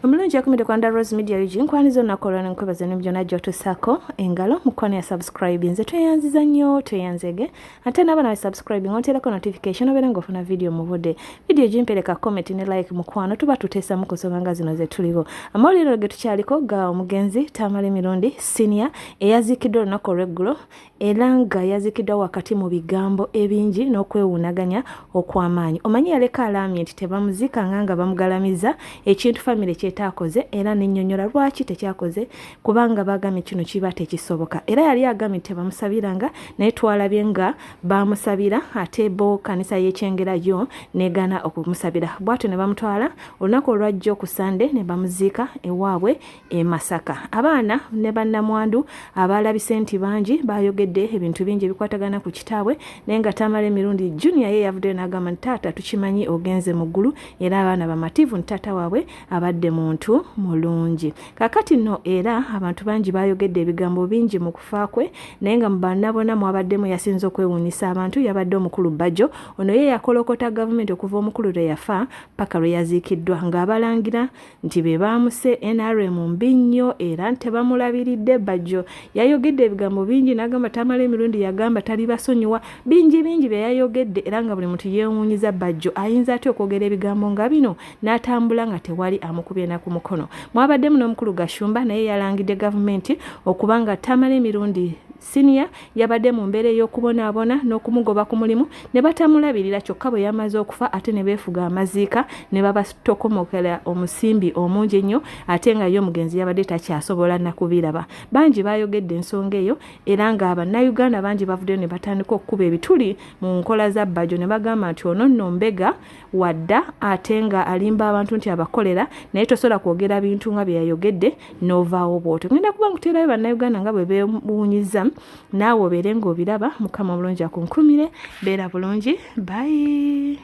omulungi yakumide kwa nda rose media ug nkwaniza olunaku olwona nkwebaza emimu gyona gyotusako engalo mukwano ya subscribe nze tweyanziza nnyo tweyanzege ate naaba nawe subscribing ontereko notification obeera nga ofuna vidiyo mubude vidiyo gimpereka comment ne like mukwano tuba tuteesamu ku nsonga nga zino zetuliwo amawulire ge tukyaliko ga omugenzi tamale mirundi sinia eyaziikiddwa olunaku olweggulo era nga yazikidwa wakati mu bigambo ebingi n'okwewuunaganya okw'amaanyi omanyi yaleka alaamye nti tebamuzikanga nga bamugalamiza ekintu famire kyetaakoze era nenyonyola lwaki tekyakoze kubanga bagamye kino kiba tekisoboka era yali agamye nti tebamusabiranga naye twalabye nga bamusabira ate bo kanisa yekyengera yo negana okumusabira bwatyo ne bamutwala olunaku olwajjo ku sande ne bamuziika ewaabwe e Masaka. Abaana ne bannamwandu abaalabise nti bangi baayogedde ebintu bingi ebikwatagana ku kitaabwe naye nga Tamale Mirundi Junior ye yavuddeyo n'agamba nti taata tukimanyi ogenze mu ggulu era abaana bamativu nti taata waabwe abadde muntu mulungi. Kaakati nno era abantu bangi baayogedde ebigambo bingi mu kufa kwe naye nga mu baana bona mwabaddemu yasinze okwewuunyisa abantu yabadde omukulu Bajjo ono ye yakolokota gavumenti okuva omukulu lwe yafa paka lwe yaziikiddwa ng'abalangira nti be baamuse nrm mbi nnyo era nti tebamulabiridde bajjo yayogedde ebigambo bingi n'agamba tamala emirundi yagamba tali basonyiwa bingi bingi bye yayogedde era nga buli muntu yeewuunyiza bajjo ayinza atya okwogera ebigambo nga bino n'atambula nga tewali amukubye na ku mukono mwabaddemu n'omukulu gashumba naye yalangidde gavumenti okuba nga tamala emirundi Siniya yabadde mu mbeera ey'okubonaabona n'okumugoba ku mulimu ne batamulabirira kyokka bwe yamaze okufa ate ne beefuga amaziika ne babatokomokera omusimbi omungi ennyo ate nga ye omugenzi yabadde takyasobola nakubiraba. Bangi baayogedde ensonga eyo era nga Bannayuganda bangi bavuddeyo ne batandika okukuba ebituli mu nkola za Bbajo ne bagamba nti ono nno mbega wadda ate nga alimba abantu nti abakolera naye tosobola kwogera bintu nga byeyayogedde novaawo bwotyo ngenda kuba nkuteerayo bannayuganda nga bwe bewunyiza naawe obeere ngaobiraba mukama omulungi akunkumire beera bulungi bayi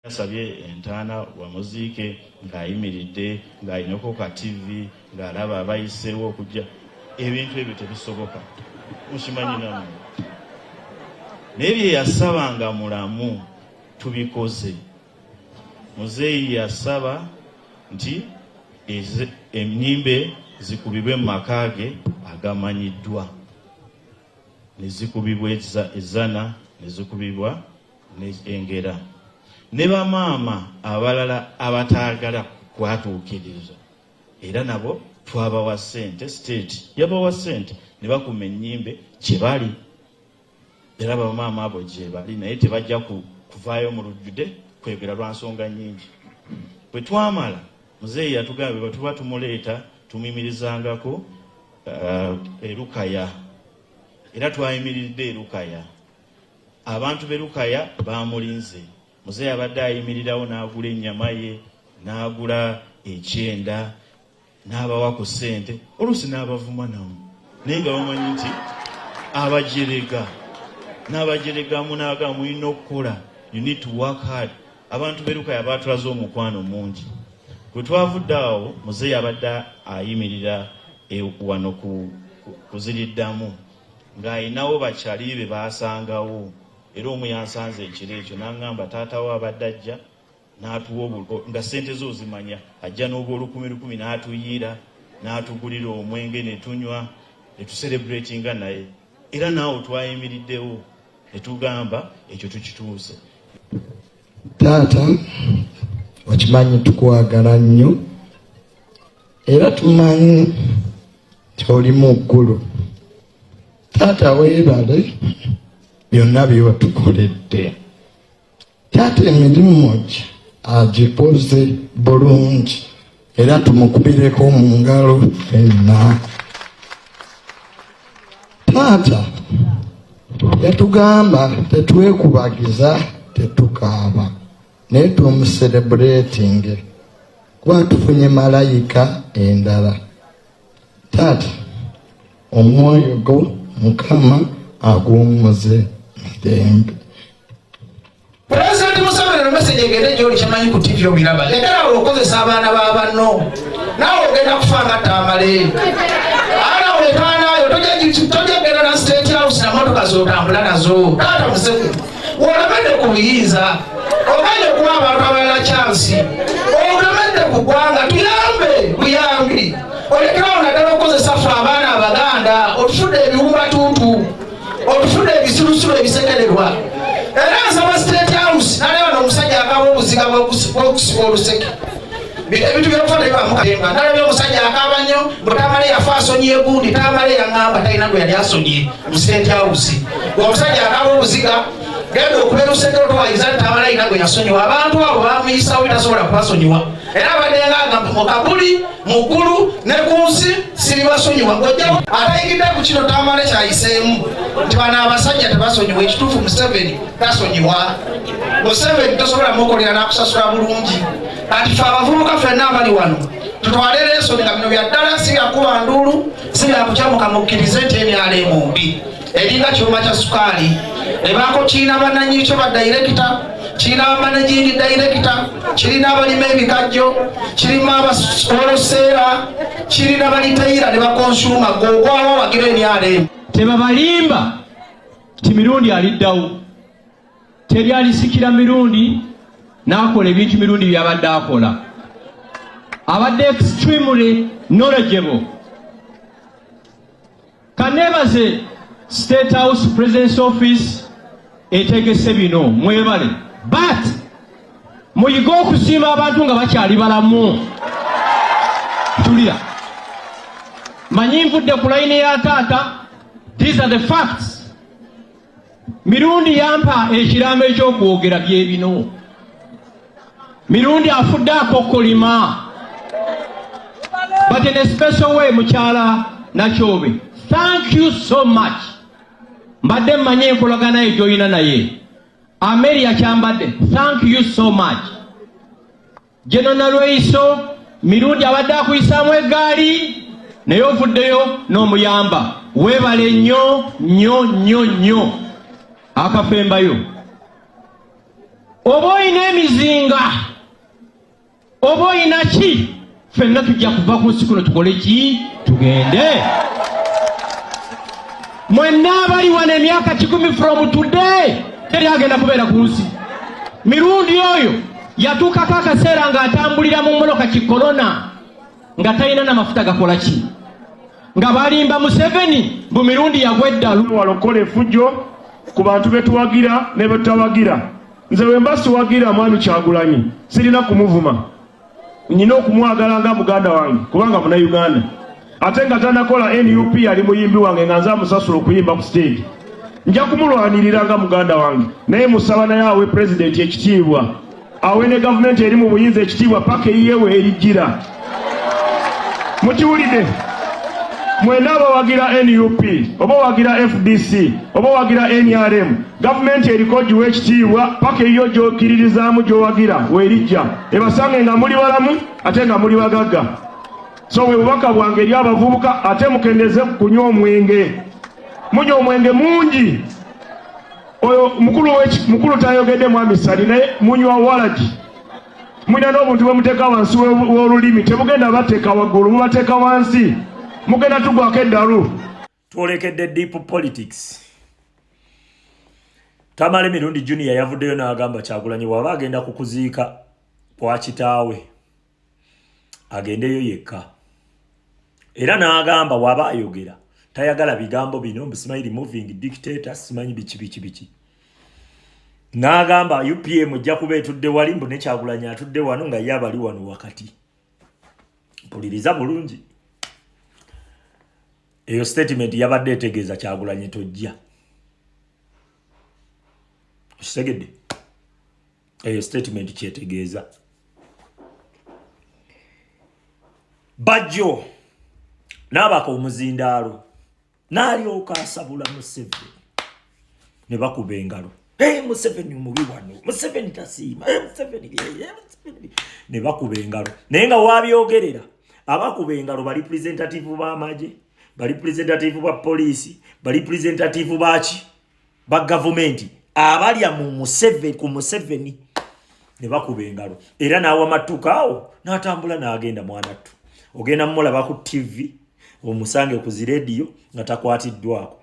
yasabye entaana wamuziike ng'ayimiridde ng'alinako ka tivi ng'alaba abayiseewo okujja ebintu ebyo tebisoboka mukimanyi namu naye bye yasaba nga mulamu tubikoze muzeeyi yasaba nti ennyimbe zikubibwe mu maka ge agamanyiddwa ne zikubibwa ezzana ne zikubibwa engera ne bamaama abalala abataagala kwatuukiriza era nabo twabawa sente state yabawa sente ne bakuma ennyimbe gye bali era bamaama abo gye bali naye tebajja kuvaayo mu lujjude kwegera lwa nsonga nnyingi bwe twamala muzeeyi yatugambe bwe tuba tumuleeta tumuyimirizangako uh, erukaya era twayimiridde erukaya abantu berukaya bamulinze Muzeeyi abadde ayimirirawo n'agula ennyama ye n'agula ekyenda n'abawa ku ssente oluusi n'abavuma namu naye nga bamanyi nti abajerega n'abajerega munaaga mulina okukola you need to work hard abantu berukaya baatulaze omukwano mungi bwe twavudde awo muzeeyi abadde ayimirira e, wano kuziriddamu ng'alinawo bakyali be baasangawo era omu yansanze ekiro ekyo n'aŋŋamba taata we abadde ajja n'atuwa nga ssente ze ozimanya ajja n'obwolukumi lukumi n'atuyiira n'atugulira omwenge ne tunywa ne tuserebratinga naye era naawe twayimiriddewo ne tugamba ekyo tukituuse taata okimanyi tukwagala nnyo era tumanyi nti oli mu ggulu taata weebale byonna byewatukoledde taata emirimu gi agikoze bulungi era tumukubireko mu ngalo fenna taata yatugamba tetwekubagiza tetukaaba naye tumuserebuleetinge kuba tufunye malayika endala taata omwoyo go mukama aguwummuze mirembe pulezidenti museveni nomesegi egende gyoli kyemanyi ku tivi obiraba lekerawo okukozesa abaana ba banno naawe ogenda kufa nga tamale ana wetaanayo tojagenda na state house namotoka zotambula nazo taata museveni olabadde ku buyinza oganye okuwa abantu abalala kyansi olabadde ku ggwanga tuyambe buyambi olekerawo naddala okukozesa fe abaana abaganda otufudde ebiwubatuntu otufudde ebisirusiru ebisekererwa era nsaba state house naleba nomusajja akaba obuziga bwokusiba oluseke ebintu byokufa naye bamukatemba nalabye omusajja akaaba nnyo mbu tamale yafa asonyiye gundi tamale yaŋamba talina gwe yali asonyiye musente awusi omusajja akaaba obuziga genda okubeera osenga otwayiza nti amalaika gwe yasonyiwa abantu abo bamuyisawo tasobola kubasonyiwa era abadenga agamba mukabuli mukulu ne ku nsi siribasonyiwa ngojjawo atayigidde ku kino tamale kyayiseemu nti bano abasajja tebasonyiwa ekituufu museveni tasonyiwa museveni tosobola mukolera nakusasula bulungi kati fe abavubuka fenna abali wano tutwale leeso nga bino bya ddala si byakuba nduulu si byakukyamuka mukkirize nti emyala emumbi eringa kyuma kya sukaali ebaako kiina bananyikyo ba dayirekita kirina abamanejingi dayirekita kirina abalima ebikajjo kirima abasoloseera kirina balitayira ne bakonsuma gogwawo wagira emyala emu tebabalimba ti mirundi aliddawo teri alisikira mirundi n'akola ebintu mirundi byabadde akola abadde extremely knowledgeable kaneebaze state house presidence office etegese bino mwebale but muyige okusiima abantu nga bakyali balamu tulira manyi nvudde ku layini ya taata these are the facts mirundi yampa ekiraamo ekyokwogera byebino mirundi afudde akokolima but in a special way mukyala nakyobe thank you so much mbadde mmanyi enkolagana ye gyolina naye ameria kyambadde thank you so much Jeno Nalweyiso Mirundi abadde akuyisaamu eggaali naye ovuddeyo n'omuyamba weebale nnyo nnyo nnyo nnyo akafembayo oba olina emizinga oba olina ki fenna tujja kuva ku nsi kuno tukole ki tugende mwenna abali wano emyaka kikumi from today teri agenda kubeera ku nsi mirundi oyo yatuukako akaseera ng'atambulira mu mmotoka ki kolona nga talina na mafuta gakola ki nga balimba museveni bu mirundi yagwa eddalu wala okukola efujjo ku bantu betuwagira ne betutawagira nze wemba siwagira mwami kyagulanyi sirina kumuvuma nyina okumwagala nga muganda wange kubanga munauganda ate nga tanakola nup yali muyimbi wange nga nze amusasula okuyimba ku stage nja kumulwanirira nga muganda wange naye musaba naye awe pulezidenti ekitiibwa awe ne gavumenti eri mu buyinza ekitiibwa paka eyiyewe erijjira mukiwulidde mwena abawagira nup oba owagira fdc oba owagira nrm gavumenti eriko giwa ekitiibwa paka eyiyo gyokiririzaamu gyowagira werijja ebasange nga muli balamu ate nga muli bagagga so bwe bubaka bwange eri abavubuka ate mukendeze kunywa omwenge munywa omwenge mungi oyo mukulu tayogedde mwami sali naye munywa walagi mulina n'obuntu bwemuteeka wansi w'olulimi temugenda bateeka waggulu mubateeka wansi mugenda tugwako eddalu twolekedde deep politics tamale mirundi junior yavuddeyo n'agamba kyagulanyi waba agenda ku kuziika kwa kitaawe agendeyo yekka era n'agamba waba ayogera tayagala bigambo bino mbusimanyi removing dictator simanyi biki biki biki n'agamba upm ojja kuba etudde wali mbu nekyagulanyi atudde wano nga ye abali wano wakati mpuliriza bulungi eyo statement yabadde etegeeza kyagulanyi tojja okitegedde eyo statement kyetegeeza bajjo n'abaka omuzindaalo n'alyoka asabula museveni ne bakuba engalo Hey, Museveni mubi wano Museveni tasiima hey, Museveni hey, Museveni ne bakuba engalo naye nga wabyogerera abakuba engalo bali presentative b'amagye bali presentative ba poliisi bali presentative baki ba gavumenti abalya mu Museveni ku Museveni ne bakuba engalo era n'awa mattukaawo n'atambula n'agenda mwanattu ogenda mumulaba ku ttivi omusange ku zi rediyo nga takwatiddwako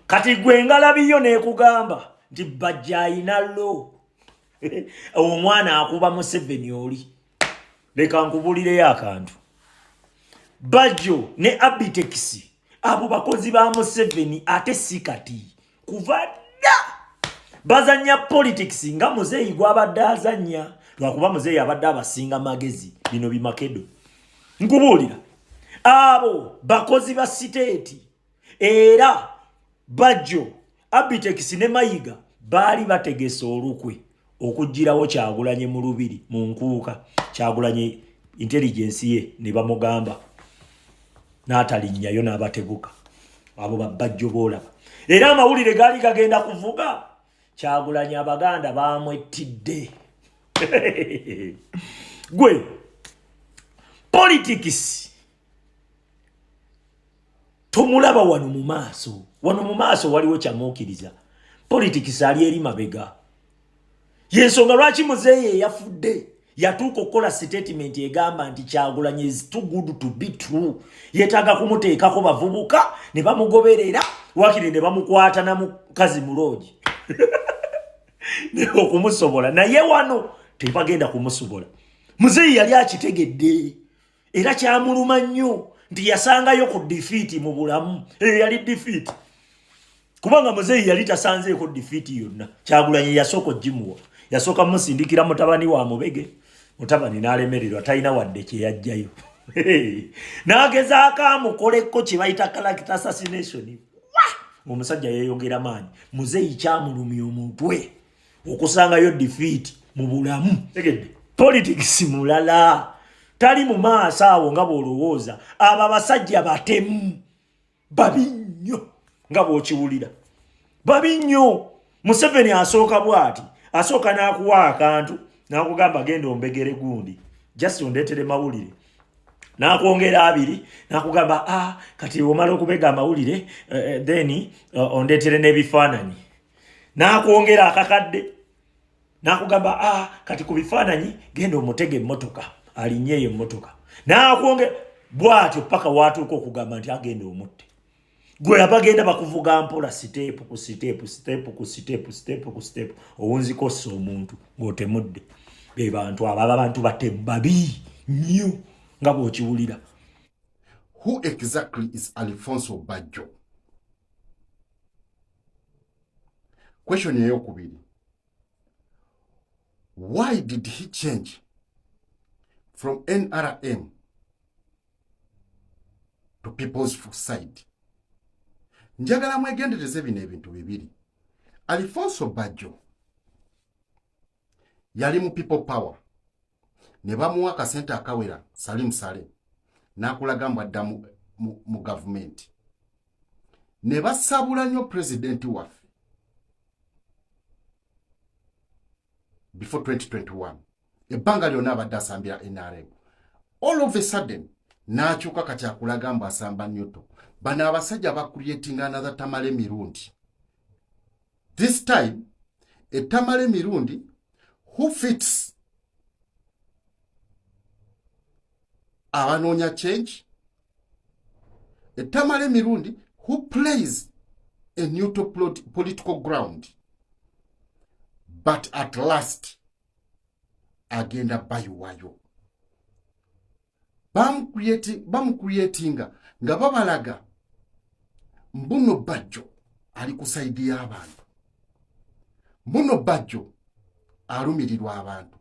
kati gwe ngalabiyo nekugamba nti bajja ayina lo omwana akuba museveni oli leka nkubulireyo akantu bajjo ne abitekisi abo bakozi ba museveni ate si kati kuva dda bazanya politics nga muzeeyi gwabadde azanya lwakuba muzeeyi abadde abasinga magezi bino bimakedo nkubuulira abo bakozi ba siteeti era bajjo abitekisi ne mayiga baali bategese olukwe okugirawo kyagulanye mu lubiri mu nkuuka kyagulanye intelligence ye ne bamugamba n'atalinnyayo n'abatebuka abo babajjo boolaba era amawulire gaali gagenda kuvuga kyagulanyi abaganda bamwettidde gwe politics tomulaba wano mu maaso wano mu maaso waliwo kyamuukiriza politics ali eri mabega yensonga lwaki muzeeyi eyafudde yatuuka okukola sitatimenti egamba nti kyagulanyi is too good to be true yetaaga kumuteekako bavubuka ne bamugoberera wakiri ne bamukwata na mukazi muloogi okumusobola naye wano tebagenda kumusobola muzeeyi yali akitegedde era kyamuluma nnyo nti yasangayo ku difiiti mu bulamu eyo yali difiiti kubanga muzeeyi yali tasanzeeko difiiti yonna kyagulanyi yasooka ogimuwa yasooka musindikira mutabani wa mubege mutabani n'alemererwa talina wadde kye yajjayo n'agezaako amukoleko kye bayita kalakita assassination omusajja yeyogera maanyi muzeeyi kyamulumya omutwe okusangayo defeat mu bulamu tegedde politics mulala tali mu maaso awo nga bw'olowooza abo abasajja batemu babi nnyo nga bw'okiwulira babi nnyo museveni asooka bw'ati asooka n'akuwa akantu n'akugamba genda ombegere gundi just ondeetere mawulire nakwongera abiri nakugamba a ah, kati omala okubega amawulire eh, eh, then eh, ondetere n'ebifaananyi nakwongera akakadde nakugamba a ah, kati ku bifaananyi genda omutega emmotoka alinye eyo emmotoka nakwongera bwatyo paka watuuka okugamba nti agenda omutte gwe abagenda bakuvuga mpola siteepu ku siteepu siteepu ku siteepu siteepu ku siteepu owunzikossa omuntu ng'otemudde be bantu abo aba bantu batemu babi nnyo nga bw'okiwulira who exactly is alfonso bajjo question eyokubiri why did he change from nrm to people's side njagala mwegendereze bino ebintu bibiri alifonso bajo yali mu people power ne bamuwa akasente akawera salimu sale n'akulaga mbu adda mu gavumenti ne basabula nnyo pulezidenti waffe before 2021 ebbanga lyonna abadde asambira nrm all of a sudden n'akyuka kati akulaga mbu asamba newto bano abasajja bakuyetinga anatha tamale mirundi this time etamala emirundi who fits abanoonya change etamala emirundi who plays a neutral political ground but at last agenda bayiwayo bamukuyetinga nga babalaga mbuno bajjo ali ku saidi y'abantu mbuno bajjo alumirirwa abantu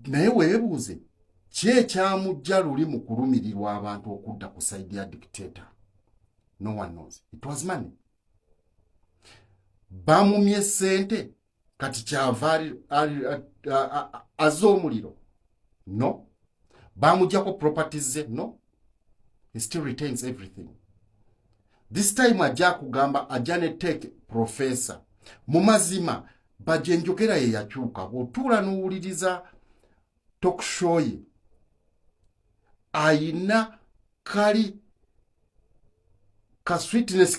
naye weebuuze ki ekyamujja luli mu kulumirirwa abantu okudda ku saidi ya dictator no one knows it was money bamumye sente kati kyava azza omuliro no bamujjako properties ze no he still retains everything this time ajja kugamba ajja ne take professor mu mazima baje njogera ye yakyuka bw'otuula n'owuliriza tokushoye ayina kali ka sweetness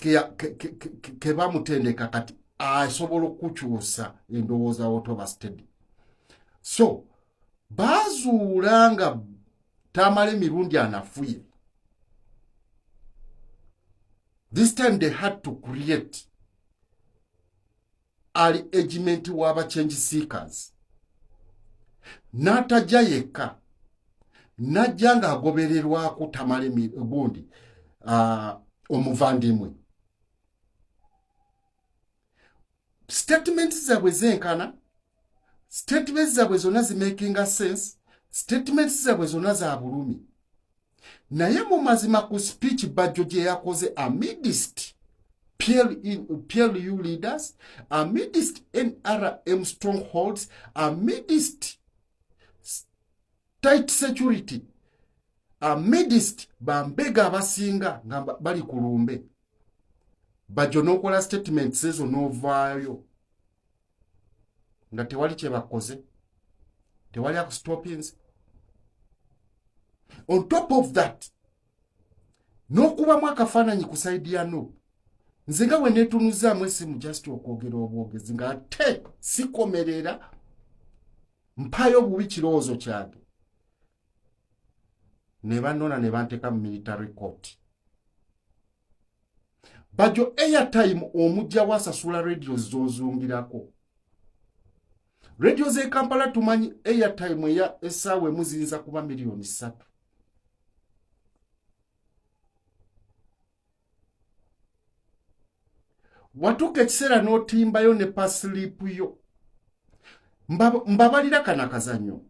ke bamutendeka kati asobola okukyusa endowooza wotoba stedi so bazuula nga tamala emirundi anafuye this time they had to create ali egimenti w'aba change seekers n'atajja yekka n'ajja ng'agobererwako tamale gundi uh, omuvandimwe statement zabwe zenkana statement zabwe zonna zimakinga sense statement zabwe zonna za bulumi naye mu mazima ku speech bajjo gye yakoze amidist plu leaders amidist nrm strongholds amidist tight security amidist bambega abasinga nga bali ku lumbe bajjo n'okola statements ezo n'ovaayo nga tewali kyebakoze tewali akustopins on top of that n'okubamu akafaananyi ku saidi ya no nze nga wenetunuzaamu esimu just okwogera obwogezi nga ate sikomerera mpayo obubi kirowoozo kyange ne banona ne banteeka mu military court bajo airtime omujja wasasula radio zozungirako radio ze kampala tumanyi airtime eya esaawa emu ziyinza kuba miliyoni ssatu watuuka ekiseera n'otimbayo ne pasilipu yo mbabalira kana kazanyo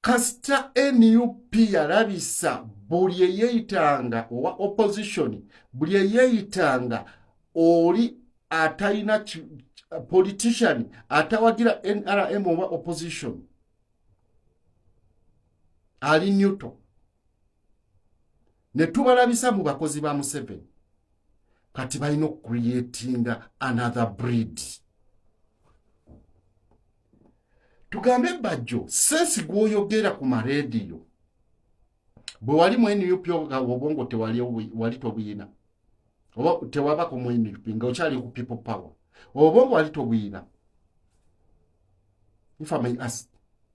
kasita nup yalabisa buli eyeyitanga owa opposition buli eyeyitanga oli atalina politician atawagira nrm oba opposition ali newto ne tubalabisa mu bakozi ba museveni kati balina okucreatinga another breed tugambe bajjo sensi gwoyogera ku marediyo bwe wali mu nup obwongo tewali wali tobuyina oba tewabako mu nup nga okyali ku people power obwongo wali tobuyina if i may ask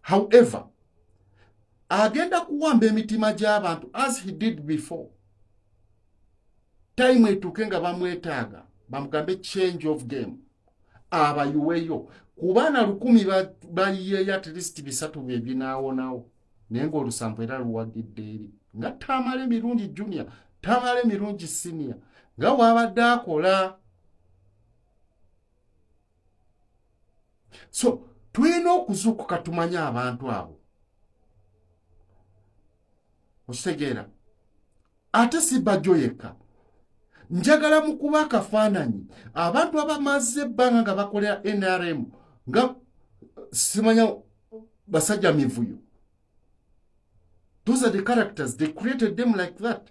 however agenda kuwamba emitima gy'abantu as he did before time etuuke nga bamwetaaga bamugambe change of game abayiweyo ku baana lukumi bayiyeyo at least bisatu bye binaawonawo naye ng'olusanvu era luwagidde eri nga tamala emirungi junior tamala emirungi sinior nga waabadde akola so tulina okuzuukuka tumanye abantu abo okitegeera ate sibajjo yekka njagala mu kuba akafaananyi abantu abamaze ebbanga nga bakolera nrm nga simanya basajja mivuyo those are the characters they created them like that